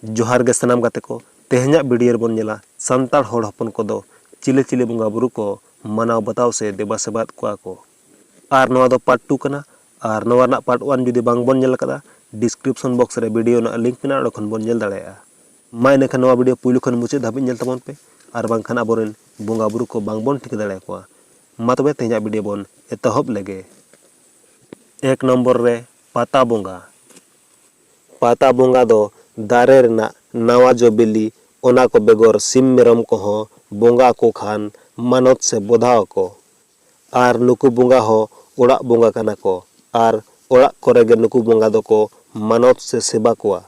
ᱡᱚᱦᱟᱨ ᱜᱮ ᱥᱟᱱᱟᱢ ᱜᱟᱛᱮ ᱠᱚ ᱛᱮᱦᱮᱧᱟᱜ ᱵᱷᱤᱰᱤᱭᱳ ᱨᱮᱵᱚᱱ ᱧᱮᱞᱟ ᱥᱟᱱᱛᱟᱲ ᱦᱚᱲ ᱦᱚᱯᱚᱱ ᱠᱚᱫᱚ ᱪᱤᱞᱤ ᱪᱤᱞᱤ ᱵᱚᱸᱜᱟ ᱵᱩᱨᱩ ᱠᱚ ᱢᱟᱱᱟᱣ ᱵᱟᱛᱟᱣ ᱥᱮ ᱫᱮᱵᱟ ᱥᱮᱵᱟᱭᱮᱫ ᱠᱚᱣᱟ ᱠᱚ ᱟᱨ ᱱᱚᱣᱟ ᱫᱚ ᱯᱟᱨᱴ ᱴᱩ ᱠᱟᱱᱟ ᱟᱨ ᱱᱚᱣᱟ ᱨᱮᱱᱟᱜ ᱯᱟᱨᱴ ᱚᱣᱟᱱ ᱡᱩᱫᱤ ᱵᱟᱝ ᱵᱚᱱ ᱧᱮᱞ ᱟᱠᱟᱫᱟ ᱰᱤᱥᱠᱨᱤᱯᱥᱚᱱ ᱵᱚᱠᱥ ᱨᱮ ᱵᱷᱤᱰᱤᱭᱳ ᱨᱮᱱᱟᱜ ᱞᱤᱝᱠ ᱢᱮᱱᱟᱜᱼᱟ ᱚᱸᱰᱮ ᱠᱷᱚᱱ ᱵᱚᱱ ᱧᱮᱞ ᱫᱟᱲᱮᱭᱟᱜᱼᱟ ᱢᱟ ᱤᱱᱟᱹᱠᱷᱟᱱ ᱱᱚᱣᱟ ᱵᱷᱤᱰᱤᱭᱳ ᱯᱩᱭᱞᱩ ᱠᱷᱚᱱ ᱢᱩᱪᱟᱹᱫ ᱫᱷᱟᱹᱵᱤᱡ ᱧᱮᱞ ᱛᱟᱵᱚᱱ ᱯᱮ ᱟᱨ ᱵᱟᱝᱠᱷᱟᱱ ᱟᱵᱚᱨᱮᱱ ᱵᱚᱸᱜᱟ ᱵᱩᱨᱩ ᱠᱚ ᱵᱟᱝ ᱵᱚᱱ ᱴᱷᱤᱠᱟᱹ ᱫᱟᱲᱮ ᱟᱠᱚᱣᱟ ᱢᱟ ᱛᱚᱵᱮ ᱛᱮᱦᱮᱧᱟᱜ ᱵᱷᱤᱰᱤᱭᱳ ᱵᱚᱱ ᱮᱛᱚᱦᱚᱵ ᱞᱮᱜᱮ ᱮᱠ ᱱᱚᱢᱵᱚᱨ ᱨᱮ ᱯᱟᱛᱟ ᱵᱚᱸᱜᱟ ᱯᱟᱛᱟ ᱵᱚᱸᱜᱟ ᱫᱚ ᱫᱟᱨᱮ ᱨᱮᱱᱟᱜ ᱱᱟᱣᱟ ᱡᱚ ᱵᱤᱞᱤ ᱚᱱᱟ ᱠᱚ ᱵᱮᱜᱚᱨ ᱥᱤᱢ ᱢᱮᱨᱚᱢ ᱠᱚᱦᱚᱸ ᱵᱚᱸᱜᱟ ᱟᱠᱚ ᱠᱷᱟᱱ ᱢᱟᱱᱚᱛ ᱥᱮ ᱵᱚᱫᱷᱟᱣ ᱟᱠᱚ ᱟᱨ ᱱᱩᱠᱩ ᱵᱚᱸᱜᱟ ᱦᱚᱸ ᱚᱲᱟᱜ ᱵᱚᱸᱜᱟ ᱠᱟᱱᱟ ᱠᱚ ᱟᱨ ᱚᱲᱟᱜ ᱠᱚᱨᱮ ᱜᱮ ᱱᱩᱠᱩ ᱵᱚᱸᱜᱟ ᱫᱚ ᱠᱚ ᱢᱟᱱᱚᱛ ᱥᱮ ᱥᱮᱵᱟ ᱠᱚᱣᱟ᱾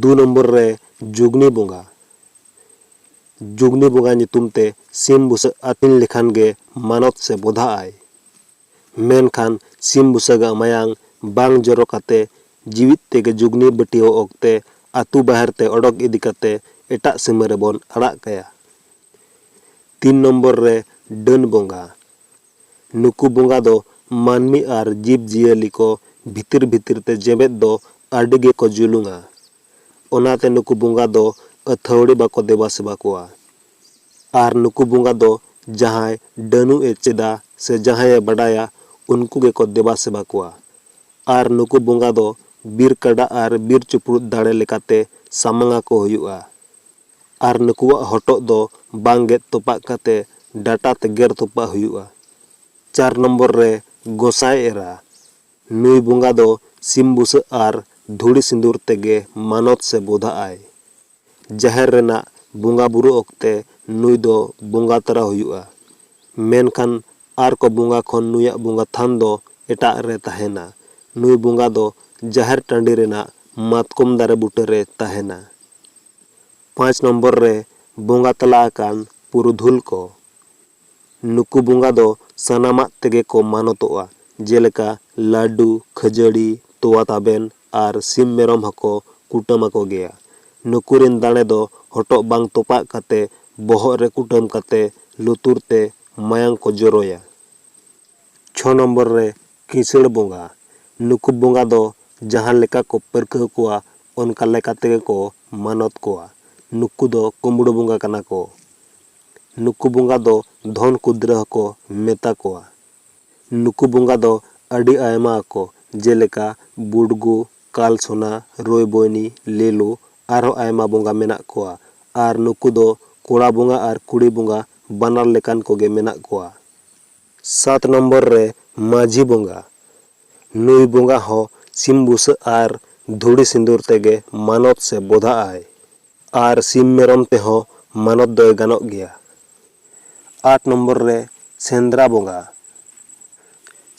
ᱫᱩ ᱱᱚᱢᱵᱚᱨ ᱨᱮ ᱡᱩᱜᱽᱱᱤ ᱵᱚᱸᱜᱟ᱾ ᱡᱩᱜᱽᱱᱤ ᱵᱚᱸᱜᱟ ᱧᱩᱛᱩᱢ ᱛᱮ ᱥᱤᱢ ᱵᱩᱥᱟᱹᱜ ᱟᱹᱛᱤᱧ ᱞᱮᱠᱷᱟᱱ ᱜᱮ ᱢᱟᱱᱚᱛ ᱥᱮ ᱵᱚᱫᱷᱟᱜ ᱟᱭ᱾ ᱢᱮᱱᱠᱷᱟᱱ ᱥᱤᱢ ᱵᱩᱥᱟᱹᱜᱟᱜ ᱢᱟᱭᱟᱝ ᱵᱟᱝ ᱡᱚᱨᱚ ᱠᱟᱛᱮ ᱡᱤᱣᱤᱫ ᱛᱮᱜᱮ ᱡᱩᱜᱽᱱᱤ ᱵᱟᱹᱴᱭᱟᱹᱣ ᱚᱠᱛᱮ ᱟᱹᱛᱩ ᱵᱟᱦᱮᱨ ᱛᱮ ᱚᱰᱚᱠ ᱤᱫᱤ ᱠᱟᱛᱮ ᱮᱴᱟᱜ ᱥᱤᱢᱟᱹ ᱨᱮᱵᱚᱱ ᱟᱲᱟᱜ ᱠᱟᱭᱟ᱾ ᱛᱤᱱ ᱱᱚᱢᱵᱚᱨ ᱨᱮ ᱰᱟᱹᱱ ᱵᱚᱸᱜᱟ᱾ ᱱᱩᱠᱩ ᱵᱚᱸᱜᱟ ᱫᱚ ᱢᱟᱹᱱᱢᱤ ᱟᱨ ᱡᱤᱵᱽ ᱡᱤᱭᱟᱹᱞᱤ ᱠᱚ ᱵᱷᱤᱛᱤᱨ ᱵᱷᱤᱛᱤᱨ ᱛᱮ ᱡᱮᱵᱮᱫ ᱫᱚ ᱟᱹᱰᱤ ᱜᱮ ᱠᱚ ᱡᱩᱞᱩᱝᱼᱟ᱾ ᱚᱱᱟ ᱛᱮ ᱱᱩᱠᱩ ᱵᱚᱸᱜᱟ ᱫᱚ ᱟᱹᱛᱷᱟᱹᱣᱲᱤ ᱵᱟᱠᱚ ᱫᱮᱵᱟ ᱥᱮᱵᱟ ᱠᱚᱣᱟ᱾ ᱟᱨ ᱱᱩᱠᱩ ᱵᱚᱸᱜᱟ ᱫᱚ ᱡᱟᱦᱟᱸᱭ ᱰᱟᱹᱱᱩᱜ ᱮ ᱪᱮᱫᱟ ᱥᱮ ᱡᱟᱦᱟᱸᱭ ᱮ ᱵᱟᱰᱟᱭᱟ ᱩᱱᱠᱩ ᱜᱮ ᱠᱚ ᱫᱮᱵᱟ ᱥᱮᱵᱟ ᱠᱚᱣᱟ᱾ ᱟᱨ ᱱᱩᱠᱩ ᱵᱚᱸᱜᱟ ᱫᱚ ᱵᱤᱨ ᱠᱟᱰᱟ ᱟᱨ ᱵᱤᱨ ᱪᱩᱯᱲᱩᱫ ᱫᱟᱲᱮ ᱞᱮᱠᱟᱛᱮ ᱥᱟᱢᱟᱝ ᱟᱠᱚ ᱦᱩᱭᱩᱜᱼᱟ᱾ ᱟᱨ ᱱᱩᱠᱩᱣᱟᱜ ᱦᱚᱴᱚᱜ ᱫᱚ ᱵᱟᱝ ᱜᱮᱫ ᱛᱚᱯᱟᱜ ᱠᱟᱛᱮ ᱰᱟᱴᱟ ᱛᱮ ᱜᱮᱨ ᱛᱚᱯᱟᱜ ᱦᱩᱭᱩᱜᱼᱟ᱾ ᱪᱟᱨ ᱱᱚᱢᱵᱚᱨ ᱨᱮ ᱜᱚᱸᱥᱟᱭ ᱮᱨᱟ᱾ ᱱᱩᱭ ᱵᱚᱸᱜᱟ ᱫᱚ ᱥᱤᱢ ᱵᱩᱥᱟᱹᱜ ᱟᱨ ᱫᱷᱩᱲᱤ ᱥᱤᱸᱫᱩᱨ ᱛᱮᱜᱮ ᱢᱟᱱᱚᱛ ᱥᱮ ᱵᱚᱫᱷᱟᱜ ᱟᱭ᱾ ᱡᱟᱦᱮᱨ ᱨᱮᱱᱟᱜ ᱵᱚᱸᱜᱟ ᱵᱩᱨᱩ ᱚᱠᱛᱮ ᱱᱩᱭ ᱫᱚ ᱵᱚᱸᱜᱟ ᱛᱚᱨᱟ ᱦᱩᱭᱩᱜᱼᱟ᱾ ᱢᱮᱱᱠᱷᱟᱱ ᱟᱨ ᱠᱚ ᱵᱚᱸᱜᱟ ᱠᱷᱚᱱ ᱱᱩᱭᱟᱜ ᱵᱚᱸᱜᱟ ᱛᱷᱟᱱ ᱫᱚ ᱮᱴᱟᱜ ᱨᱮ ᱛᱟᱦᱮᱸᱱᱟ᱾ ᱱᱩᱭ ᱵᱚᱸᱜᱟ ᱫᱚ ᱡᱟᱦᱮᱨ ᱴᱟᱺᱰᱤ ᱨᱮᱱᱟᱜ ᱢᱟᱛᱠᱚᱢ ᱫᱟᱨᱮ ᱵᱩᱴᱟᱹ ᱨᱮ ᱛᱟᱦᱮᱸᱱᱟ᱾ ᱯᱟᱸᱪ ᱱᱚᱢᱵᱚᱨ ᱨᱮ ᱵᱚᱸᱜᱟ ᱛᱟᱞᱟ ᱟᱠᱟᱱ ᱯᱩᱨᱩᱫᱷᱩᱞ ᱠᱚ᱾ ᱱᱩᱠᱩ ᱵᱚᱸᱜᱟ ᱫᱚ ᱥᱟᱱᱟᱢᱟᱜ ᱛᱮᱜᱮ ᱠᱚ ᱢᱟᱱᱚᱛᱚᱜᱼᱟ, ᱡᱮᱞᱮᱠᱟ ᱞᱟᱹᱰᱩ, ᱠᱷᱟᱹᱡᱟᱹᱲᱤ, ᱛᱚᱣᱟ ᱛᱟᱵᱮᱱ ᱟᱨ ᱥᱤᱢ ᱢᱮᱨᱚᱢ ᱦᱚᱸᱠᱚ ᱠᱩᱴᱟᱹᱢ ᱟᱠᱚ ᱜᱮᱭᱟ᱾ ᱱᱩᱠᱩ ᱨᱤᱱ ᱫᱟᱲᱮ ᱫᱚ ᱦᱚᱴᱚᱜ ᱵᱟᱝ ᱛᱚᱯᱟᱜ ᱠᱟᱛᱮ ᱵᱚᱦᱚᱜ ᱨᱮ ᱠᱩᱴᱟᱹᱢ ᱠᱟᱛᱮ ᱞᱩᱛᱩᱨ ᱛᱮ ᱢᱟᱭᱟᱝ ᱠᱚ ᱡᱚᱨᱚᱭᱟ᱾ ᱪᱷᱚ ᱱᱚᱢᱵᱚᱨ ᱨᱮ ᱠᱤᱥᱟᱹᱬ ᱵᱚᱸᱜᱟ, ᱱᱩᱠᱩ ᱵᱚᱸᱜᱟ ᱫᱚ ᱡᱟᱦᱟᱸ ᱞᱮᱠᱟ ᱠᱚ ᱯᱟᱹᱨᱠᱟᱹᱣ ᱠᱚᱣᱟ ᱚᱱᱠᱟ ᱞᱮᱠᱟ ᱛᱮᱜᱮ ᱠᱚ ᱢᱟᱱᱚᱛ ᱠᱚᱣᱟ᱾ ᱱᱩᱠᱩ ᱫᱚ ᱠᱩᱢᱵᱽᱲᱩ ᱵᱚᱸᱜᱟ ᱠᱟᱱᱟ ᱠᱚ᱾ ᱱᱩᱠᱩ ᱵᱚᱸᱜᱟ ᱫᱚ ᱫᱷᱚᱱ ᱠᱩᱫᱽᱨᱟᱹ ᱦᱚᱸᱠᱚ ᱢᱮᱛᱟ ᱠᱚᱣᱟ᱾ ᱱᱩᱠᱩ ᱵᱚᱸᱜᱟ ᱫᱚ ᱟᱹᱰᱤ ᱟᱭᱢᱟ ᱟᱠᱚ ᱡᱮᱞᱮᱠᱟ ᱵᱩᱰᱜᱩ, ᱠᱟᱞ ᱥᱚᱱᱟ, ᱨᱳᱭ ᱵᱳᱭᱱᱤ, ᱞᱮᱞᱩ ᱟᱨᱦᱚᱸ ᱟᱭᱢᱟ ᱵᱚᱸᱜᱟ ᱢᱮᱱᱟᱜ ᱠᱚᱣᱟ ᱟᱨ ᱱᱩᱠᱩ ᱫᱚ ᱠᱚᱲᱟ ᱵᱚᱸᱜᱟ ᱟᱨ ᱠᱩᱲᱤ ᱵᱚᱸᱜᱟ ᱵᱟᱱᱟᱨ ᱞᱮᱠᱟᱱ ᱠᱚᱜᱮ ᱢᱮᱱᱟᱜ ᱠᱚᱣᱟ᱾ ᱥᱟᱛ ᱱᱚᱢᱵᱚᱨ ᱨᱮ ᱢᱟᱹᱡᱷᱤ ᱵᱚᱸᱜᱟ᱾ ᱱᱩᱭ ᱵᱚᱸᱜᱟ ᱦᱚᱸ ᱥᱤᱢ ᱵᱩᱥᱟᱹᱜ ᱟᱨ ᱫᱷᱩᱲᱤ ᱥᱤᱸᱫᱩᱨ ᱛᱮᱜᱮ ᱢᱟᱱᱚᱛ ᱥᱮ ᱵᱚᱫᱷᱟ ᱟᱭ ᱟᱨ ᱥᱤᱢ ᱢᱮᱨᱚᱢ ᱛᱮᱦᱚᱸ ᱢᱟᱱᱚᱛ ᱫᱚᱭ ᱜᱟᱱᱚᱜ ᱜᱮᱭᱟ᱾ ᱟᱴ ᱱᱚᱢᱵᱚᱨ ᱨᱮ ᱥᱮᱸᱫᱽᱨᱟ ᱵᱚᱸᱜᱟ᱾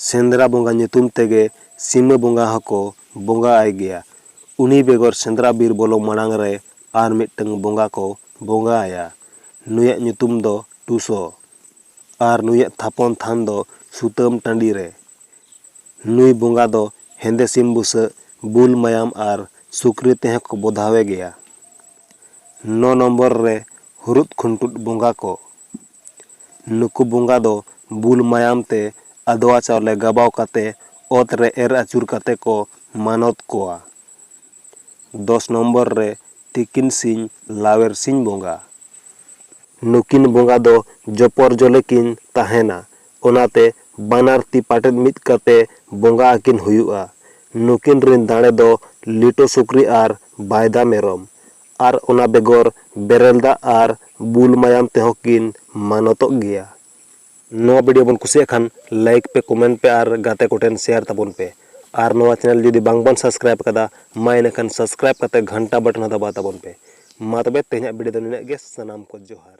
ᱥᱮᱸᱫᱽᱨᱟ ᱵᱚᱸᱜᱟ ᱧᱩᱛᱩᱢ ᱛᱮᱜᱮ ᱥᱤᱢᱟᱹ ᱵᱚᱸᱜᱟ ᱦᱚᱸᱠᱚ ᱵᱚᱸᱜᱟ ᱟᱭ ᱜᱮᱭᱟ᱾ ᱩᱱᱤ ᱵᱮᱜᱚᱨ ᱥᱮᱸᱫᱽᱨᱟ ᱵᱤᱨ ᱵᱚᱞᱚ ᱢᱟᱬᱟᱝ ᱨᱮ ᱟᱨ ᱢᱤᱫᱴᱟᱹᱝ ᱵᱚᱸᱜᱟ ᱠᱚ ᱵᱚᱸᱜᱟ ᱟᱭᱟ᱾ ᱱᱩᱭᱟᱜ ᱧᱩᱛᱩᱢ ᱫᱚ ᱴᱩᱥᱚ᱾ ᱟᱨ ᱱᱩᱭᱟᱜ ᱛᱷᱟᱯᱚᱱ ᱛᱷᱟᱱ ᱫᱚ ᱥᱩᱛᱟᱹᱢ ᱴᱟᱺᱰᱤ ᱨᱮ᱾ ᱱᱩᱭ ᱵᱚᱸᱜᱟ ᱫᱚ ᱦᱮᱸᱫᱮ ᱥᱤᱢ ᱵᱩᱥᱟᱹᱜ, ᱵᱩᱞ ᱢᱟᱭᱟᱢ ᱟᱨ ᱥᱩᱠᱨᱤ ᱛᱮᱦᱚᱸ ᱠᱚ ᱵᱚᱫᱷᱟᱣᱮ ᱜᱮᱭᱟ᱾ ᱱᱚ ᱱᱚᱢᱵᱚᱨ ᱨᱮ ᱦᱩᱨᱩᱫ ᱠᱷᱩᱱᱴᱩᱫ ᱵᱚᱸᱜᱟ ᱠᱚ᱾ ᱱᱩᱠᱩ ᱵᱚᱸᱜᱟ ᱫᱚ ᱵᱩᱞ ᱢᱟᱭᱟᱢ ᱛᱮ ᱟᱫᱽᱣᱟ ᱪᱟᱣᱞᱮ ᱜᱟᱵᱟᱣ ᱠᱟᱛᱮ ᱚᱛ ᱨᱮ ᱮᱨ ᱟᱹᱪᱩᱨ ᱠᱟᱛᱮ ᱠᱚ ᱢᱟᱱᱚᱛ ᱠᱚᱣᱟ᱾ ᱫᱚᱥ ᱱᱚᱢᱵᱚᱨ ᱨᱮ ᱛᱤᱠᱤᱱ ᱥᱤᱧ ᱞᱟᱣᱮᱨ ᱥᱤᱧ ᱵᱚᱸᱜᱟ᱾ ᱱᱩᱠᱤᱱ ᱵᱚᱸᱜᱟ ᱫᱚ ᱡᱚᱯᱚᱨᱡᱚᱞᱮ ᱠᱤᱱ ᱛᱟᱦᱮᱸᱱᱟ᱾ ᱚᱱᱟᱛᱮ ᱵᱟᱱᱟᱨ ᱛᱤ ᱯᱟᱴᱮᱫ ᱢᱤᱫ ᱠᱟᱛᱮ ᱵᱚᱸᱜᱟ ᱟᱹᱠᱤᱱ ᱦᱩᱭᱩᱜᱼᱟ᱾ ᱱᱩᱠᱤᱱ ᱨᱤᱱ ᱫᱟᱲᱮ ᱫᱚ ᱞᱤᱴᱚ ᱥᱩᱠᱨᱤ ᱟᱨ ᱵᱟᱭᱫᱟ ᱢᱮᱨᱚᱢ᱾ ᱟᱨ ᱚᱱᱟ ᱵᱮᱜᱚᱨ ᱵᱮᱨᱮᱞ ᱫᱟᱜ ᱟᱨ ᱵᱩᱞ ᱢᱟᱭᱟᱢ ᱛᱮᱦᱚᱸ ᱠᱤᱱ ᱢᱟᱱᱚᱛᱚᱜ ᱜᱮᱭᱟ᱾ ᱱᱚᱣᱟ ᱵᱷᱤᱰᱤᱭᱳ ᱵᱚᱱ ᱠᱩᱥᱤᱭᱟᱜ ᱠᱷᱟᱱ ᱞᱟᱭᱤᱠ ᱯᱮ ᱠᱚᱢᱮᱱᱴ ᱯᱮ ᱟᱨ ᱜᱟᱛᱮ ᱠᱚᱴᱷᱮᱱ ᱥᱮᱭᱟᱨ ᱛᱟᱵᱚᱱ ᱯᱮ ᱟᱨ ᱱᱚᱣᱟ ᱪᱮᱱᱮᱞ ᱡᱩᱫᱤ ᱵᱟᱝ ᱵᱚᱱ ᱥᱟᱵᱥᱠᱨᱟᱭᱤᱵ ᱟᱠᱟᱫᱟ ᱢᱟ ᱤᱱᱟᱹ ᱠᱷᱟᱱ ᱥᱟᱵᱥᱠᱨᱟᱭᱤᱵ ᱠᱟᱛᱮ ᱜᱷᱟᱱᱴᱟ ᱵᱟᱴᱚᱱ ᱦᱚᱸ ᱫᱟᱵᱟᱣ ᱛᱟᱵᱚᱱ ᱯᱮ ᱢᱟ ᱛᱚᱵᱮ ᱛᱮᱦᱮᱧᱟᱜ ᱵᱷᱤᱰᱤᱭᱳ ᱫᱚ ᱱᱤᱱᱟᱹᱜ ᱜᱮ ᱥᱟᱱᱟᱢ ᱠᱚ ᱡᱚᱦᱟᱨ᱾